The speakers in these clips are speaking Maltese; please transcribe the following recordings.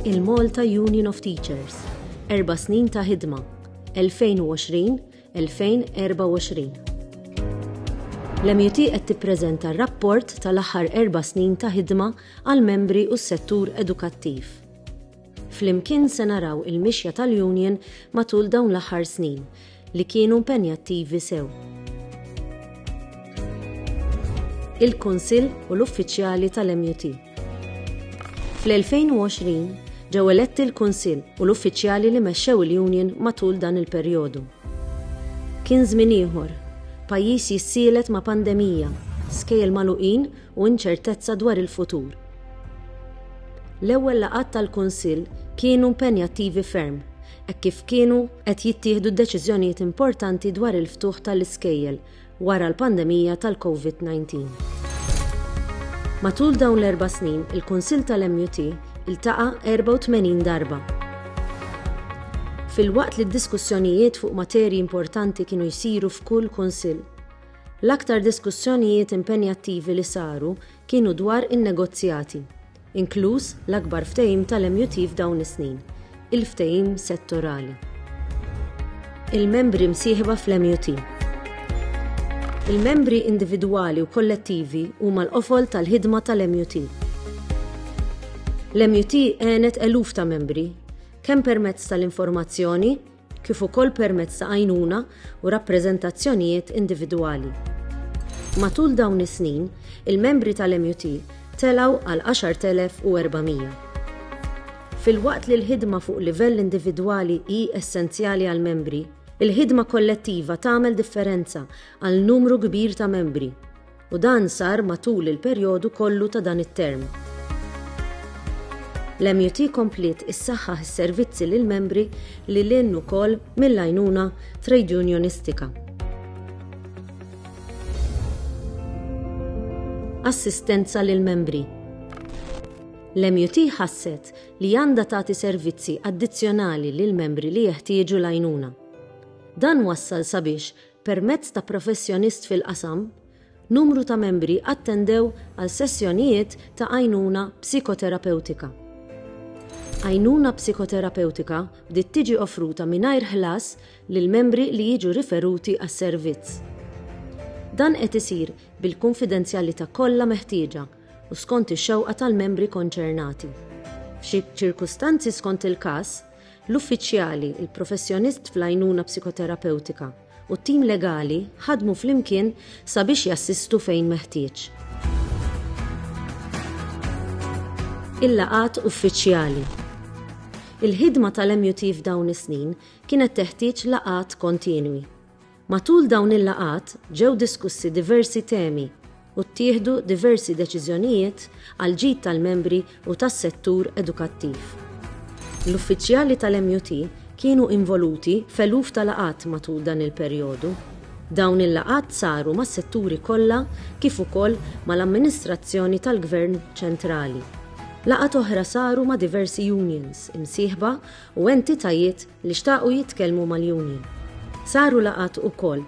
il-Malta Union of Teachers. Erba snin ta' ħidma 2020-2024. L-MUT qed tippreżenta r-rapport tal-aħħar erba' snin ta' ħidma għall-membri u s-settur edukattiv. Flimkien se naraw il-mixja tal-Union matul dawn l-aħħar snin, li kienu mpenjattivi sew. il-Kunsill u l-uffiċjali tal-MUT. Fl-2020, ġew eletti l-Kunsill u l-uffiċjali li mexxew il-Union matul dan il-perjodu. Kien żmien ieħor, pajjiż jissielet ma' pandemija, skejjel magħluqin u inċertezza dwar il-futur. L-ewwel laqgħat tal-Kunsill kienu impenjattivi ferm, hekk kif kienu qed jittieħdu deċiżjonijiet importanti dwar il-ftuħ tal-iskejjel wara l-pandemija tal-COVID-19. Matul dawn l-erba' snin, il-Kunsill tal-MUT iltaqa' 84 darba. Filwaqt li d-diskussjonijiet fuq materji importanti kienu jsiru f'kull kunsill, L-aktar diskussjonijiet impenjattivi li saru kienu dwar in-negozjati, inkluż l-akbar ftehim tal-MUT f'dawn is-snin, il-ftehim settorali. Il-membri msieħba fl-MUT. Il-membri individwali u kollettivi huma l-qofol tal-ħidma tal-MUT. L-MUT għenet eluf ta' membri, kemm permezz tal-informazzjoni, kif ukoll permezz ta' għajnuna u rappreżentazzjonijiet individwali. Matul dawn is-snin, il-membri tal-MUT telgħu għal 10,400. Filwaqt li l-ħidma fuq livell individwali hi essenzjali għall-membri, il-ħidma kollettiva tagħmel differenza għal numru kbir ta' membri u dan sar matul il-perjodu kollu ta' dan it-term. L-MUT kompliet issaħħaħ is-servizzi lill-membri lil hinn ukoll mill-għajnuna trejdjunjonistika. Assistenza lill-membri L-MUT ħasset li għandha tagħti servizzi addizzjonali lill-membri li jeħtieġu l-għajnuna. Dan wassal sabiex Permezz ta' professjonist fil-qasam, numru ta' membri attendew għal sessjonijiet ta' għajnuna psikoterapewtika. Għajnuna psikoterapewtika bdiet tiġi offruta mingħajr ħlas lill-membri li jiġu riferuti għas-servizz. Dan qed isir bil-kunfidenzjalità kollha meħtieġa u skont ix-xewqa tal-membri konċernati. F'xi ċirkustanzi skont il-każ, L-uffiċjali, il-professjonist fl-għajnuna psikoterapewtika, u t-tim legali ħadmu flimkien sabiex jassistu fejn meħtieġ. Il-laqgħat uffiċjali. Il-ħidma tal-MUT f'dawn is-snin kienet teħtieġ laqgħat kontinwi. Matul dawn il-laqgħat ġew diskussi diversi temi u ttieħdu diversi deċiżjonijiet għall-ġid tal-membri u tas-settur edukattiv. L-uffiċjali tal-MUT kienu involuti f'eluf ta' laqgħat matul dan il-perjodu. Dawn il-laqgħat saru mas-setturi kollha kif ukoll mal-amministrazzjoni tal-Gvern Ċentrali. Laqgħat oħra saru ma' diversi unions, imsieħba u entitajiet li xtaqu jitkellmu mal-union. Saru laqgħat ukoll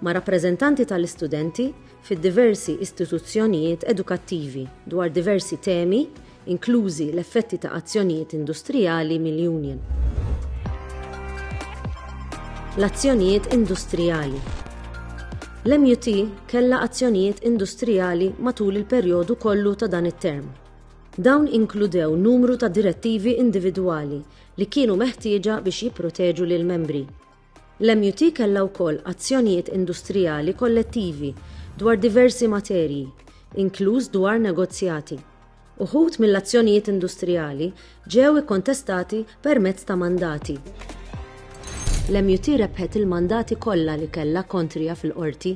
ma' rappreżentanti tal-istudenti fid-diversi istituzzjonijiet edukattivi dwar diversi temi inklużi l-effetti ta' azzjonijiet industrijali mill-union. L-azzjonijiet industrijali L-MUT kellha azzjonijiet industrijali matul il-perjodu kollu ta' dan it-term. Dawn inkludew numru ta' direttivi individwali li kienu meħtieġa biex jipproteġu lill-membri. L-MUT kellha wkoll azzjonijiet industrijali kollettivi dwar diversi materji, inkluż dwar negozjati. Uħud mill-azzjonijiet industrijali ġew ikkontestati permezz ta' mandati. L-MUT rebħet il-mandati kollha li kellha kontrija fil-Qorti.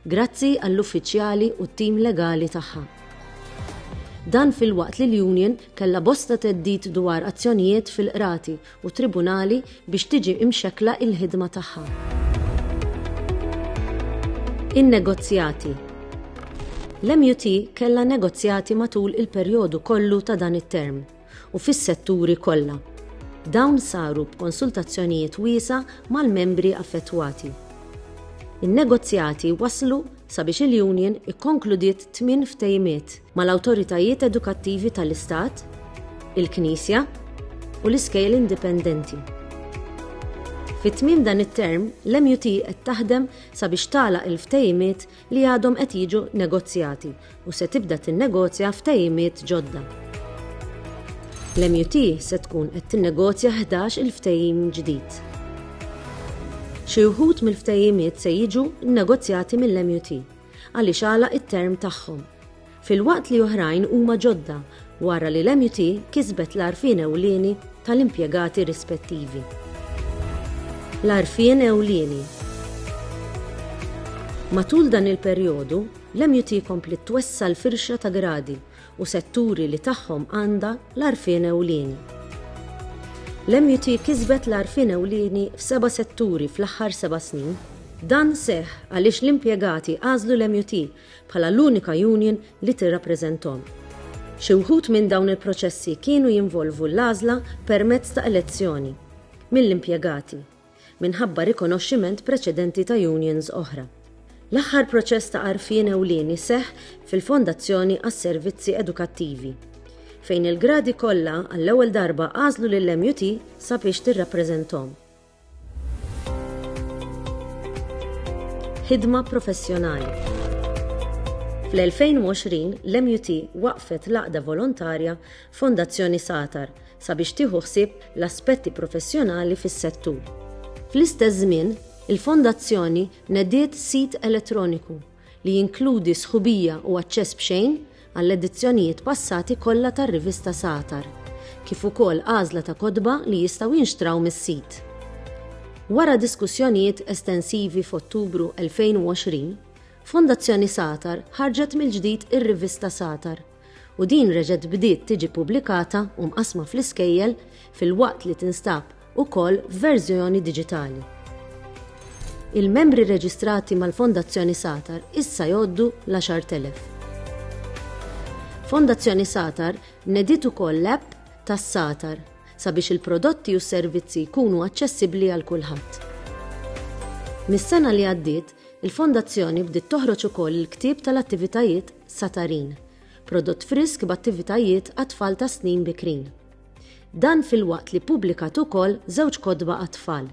Grazzi għall-uffiċjali u t-tim legali tagħha. Dan filwaqt li l-union kellha bosta theddid dwar azzjonijiet fil-qrati u t-tribunali biex tiġi imxekkla il-ħidma tagħha. In-negozjati L-MUT kellha negozjati matul il-perjodu kollu ta' dan it-term. u fis-setturi kollha. Dawn saru b'konsultazzjonijiet wiesgħa mal-membri affettwati. In-negozjati wasslu sabiex il-Union ikkonkludiet tmien ftehimiet mal-awtoritajiet edukattivi tal-Istat, il-Knisja u l-iskejjel indipendenti. Fi tmiem dan it-term, l-MUT qed taħdem sabiex tagħlaq il-ftehimiet li għadhom qed jiġu negozjati u se tibda tinnegozja ftehimiet ġodda. L-MUT se tkun qed tinnegozja ħdax il-ftehim ġdid. Xi wħud mill-ftehimiet se jiġu nnegozjati mill-MUT għaliex għalaq it-term tagħhom. filwaqt li oħrajn huma ġodda wara li l-MUT kisbet l-għarfien ewlieni tal-impjegati rispettivi. L-għarfien ewlieni Matul dan il-perjodu, l-MUT kompliet twessa' l-firxa ta' gradi u setturi li tagħhom għandha l-għarfien ewlieni. L-MUT kisbet l-għarfien ewlieni f'seba' setturi fl-aħħar seba' snin. Dan seħħ għaliex l-impjegati għażlu l-MUT bħala l-unika union li tirrappreżenthom. Xi wħud minn dawn il-proċessi kienu jinvolvu l-għażla permezz ta' elezzjoni mill-impjegati minħabba rikonoxximent preċedenti ta' unions oħra. L-aħħar proċess ta' għarfien ewlieni seħħ fil-Fondazzjoni għas-Servizzi Edukattivi, fejn il-gradi kollha għall-ewwel darba għażlu lill-MUT sabiex tirrappreżenthom. Ħidma professjonali. Fl-2020, l-MUT waqfet l-għaqda volontarja Fondazzjoni Satar sabiex tieħu ħsieb l-aspetti professjonali fis-settur. Fl-istess żmien, il-Fondazzjoni nediet sit elettroniku li jinkludi sħubija u aċċess b'xejn għall-edizzjonijiet passati kollha tar-rivista Satar, kif ukoll għażla ta' kotba li jistgħu jinxtraw mis-sit. Wara diskussjonijiet estensivi f'Ottubru 2020, Fondazzjoni Satar ħarġet mill-ġdid ir-rivista Satar, u din reġgħet bdiet tiġi ppubblikata u mqassma fl-iskejjel filwaqt li tinstab ukoll f'verżjoni diġitali. Il-membri reġistrati mal-Fondazzjoni Satar issa jgħoddu l-10,000. Fondazzjoni Satar nediet ukoll l-app tas-Satar sabiex il-prodotti u s-servizzi jkunu aċċessibbli għal kulħadd. Mis-sena li għaddiet, il-Fondazzjoni bdiet toħroġ ukoll il-ktieb tal-attivitajiet Satarin, prodott frisk b'attivitajiet għat-tfal tas-snin bikrin. Dan filwaqt li ppubblikat ukoll żewġ kotba għat-tfal.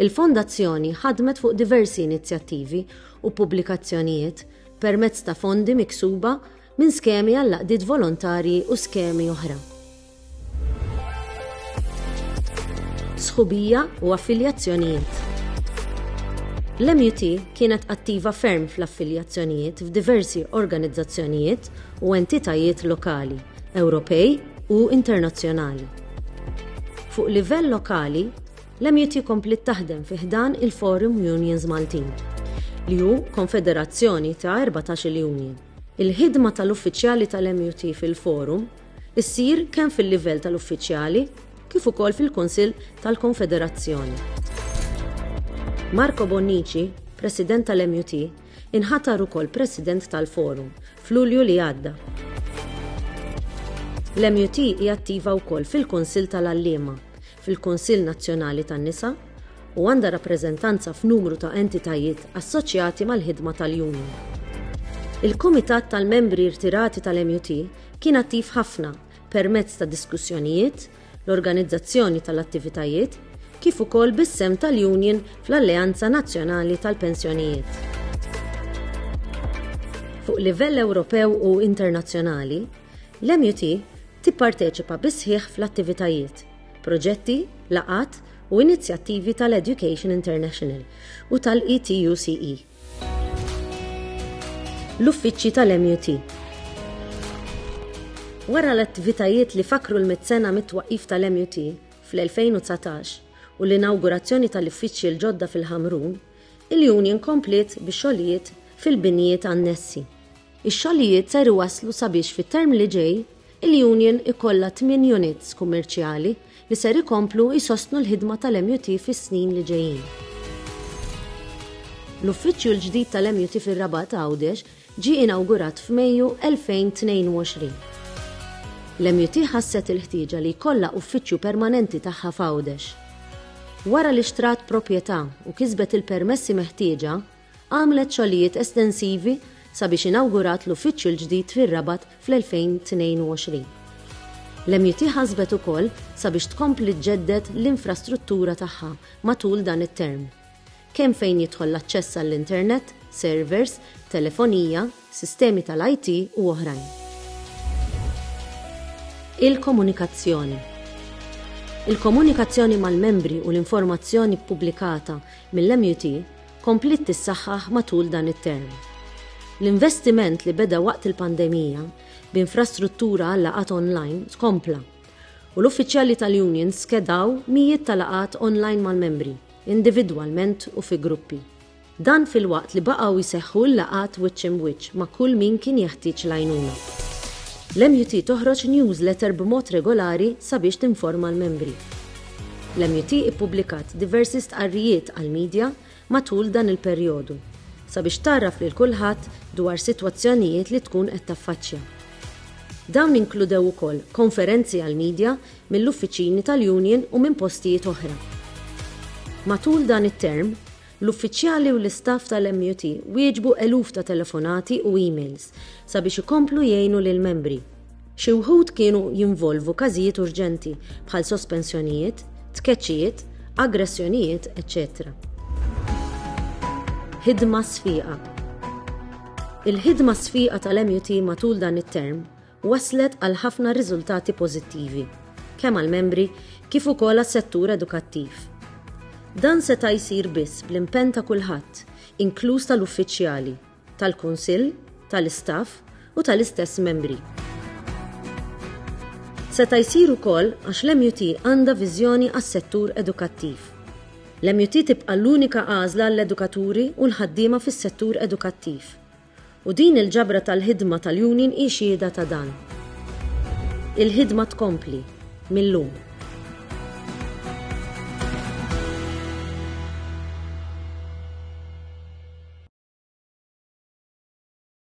Il-Fondazzjoni ħadmet fuq diversi inizjattivi u pubblikazzjonijiet permezz ta' fondi miksuba minn skemi għall-għaqdiet volontarji u skemi oħra. sħubija u affiljazzjonijiet. L-MUT kienet attiva ferm fl-affiljazzjonijiet f'diversi organizzazzjonijiet u entitajiet lokali, Ewropej u internazzjonali. Fuq livell lokali, l-MUT komplit taħdem fi ħdan il-Forum Unions Maltin, li hu konfederazzjoni ta' 14 union. Il-ħidma tal-uffiċjali tal-MUT fil-Forum issir kemm fil-livell tal-uffiċjali kif ukoll fil-Kunsill tal-Konfederazzjoni. Marco Bonnici, President tal-MUT, inħatar ukoll President tal-Forum f'Lulju li għadda. L-MUT hi attiva wkoll fil-Kunsill tal-Għalliema, fil-Kunsill Nazzjonali tan-Nisa u għandha rappreżentanza f'numru ta' entitajiet assoċjati mal-ħidma tal-union. Il-Kumitat tal-Membri Rtirati tal-MUT Kien attiv ħafna permezz ta' diskussjonijiet, l-organizzazzjoni tal-attivitajiet, kif ukoll bis-sehem tal-Union fl-Alleanza Nazzjonali tal-Pensjonijiet. Fuq livell Ewropew u internazzjonali, l-MUT tipparteċipa bis-sħiħ fl-attivitajiet, proġetti, laqgħat u inizjattivi tal-Education International u tal-ETUCE. L-uffiċċji tal-MUT Wara l-attivitajiet li fakkru l-mitt sena mit-twaqqif tal-MUT fl-2019 u l-inawgurazzjoni tal-uffiċċji l-ġodda fil-Ħamrun, il-Union kompliet bix-xogħlijiet fil-binjiet annessi. Ix-xogħlijiet ser iwasslu sabiex fit-term li ġej, il-union ikollha tmien units kummerċjali li ser ikomplu jsostnu l-ħidma tal-MUT fis-snin li ġejjin. L-uffiċċju l-ġdid tal-MUT fir-Rabat Għawdex ġie inawgurat f'Mejju 2022. L-MUT ħasset il-ħtieġa li jkollha uffiċċju permanenti tagħha f'Għawdex. Wara li xtrat proprjetà u kisbet il-permessi meħtieġa, Għamlet xogħlijiet estensivi sabiex inawgurat l-uffiċċju l-ġdid fir-Rabat fl-2022. L-MUT ħasbet ukoll sabiex tkompli ġġedded l-infrastruttura tagħha matul dan it-term, kemm fejn jidħol l-aċċess għall-internet, servers, telefonija, sistemi tal-IT u oħrajn. Il-komunikazzjoni Il-komunikazzjoni mal-membri u l-informazzjoni ppubblikata mill-MUT kompliet tissaħħaħ matul dan it-term. L-investiment li beda waqt il-pandemija b'infrastruttura għal laqgħat online tkompla u l-uffiċjali tal-unions skedaw mijiet ta' laqgħat online mal-membri, individwalment u fi gruppi. Dan filwaqt li baqgħu jseħħu l-laqgħat wiċċ im'wiċċ ma' kull min kien jeħtieġ l-għajnuna. L-MUT toħroġ newsletter b'mod regolari sabiex tinforma l-membri. L-MUT ippubblikat diversi stqarrijiet għall-media matul dan il-perjodu sabiex tgħarraf lil kulħadd dwar sitwazzjonijiet li tkun qed taffaċċja. Dawn inkludew ukoll konferenzi għall-media mill-uffiċini tal-Union u minn postijiet oħra. Matul dan it-term, L-uffiċjali u l-istaff tal-MUT wieġbu eluf ta' telefonati u emails sabiex ikomplu jgħinu lill-membri. Xi wħud kienu jinvolvu każijiet urġenti, bħal sospensjonijiet, tkeċċijiet, aggressjonijiet, eċċetera. Ħidma sfiqa Il-ħidma sfiqa tal-MUT matul dan it-term wasslet għal ħafna riżultati pożittivi, kemm għall-membri kif ukoll għas-settur edukattiv. Dan seta' jsir biss bl-impenn ta' kulħadd, inkluż tal-uffiċjali, tal-Kunsill, tal-istaff u tal-istess membri. Seta' jsir ukoll għax l-MUT għandha viżjoni għas-settur edukattiv. L-MUT tibqa' l-unika għażla għall-edukaturi u l-ħaddiema fis-settur edukattiv. U din il-ġabra tal-ħidma tal-Union hi xhieda ta' dan. Il-ħidma tkompli mil-lum.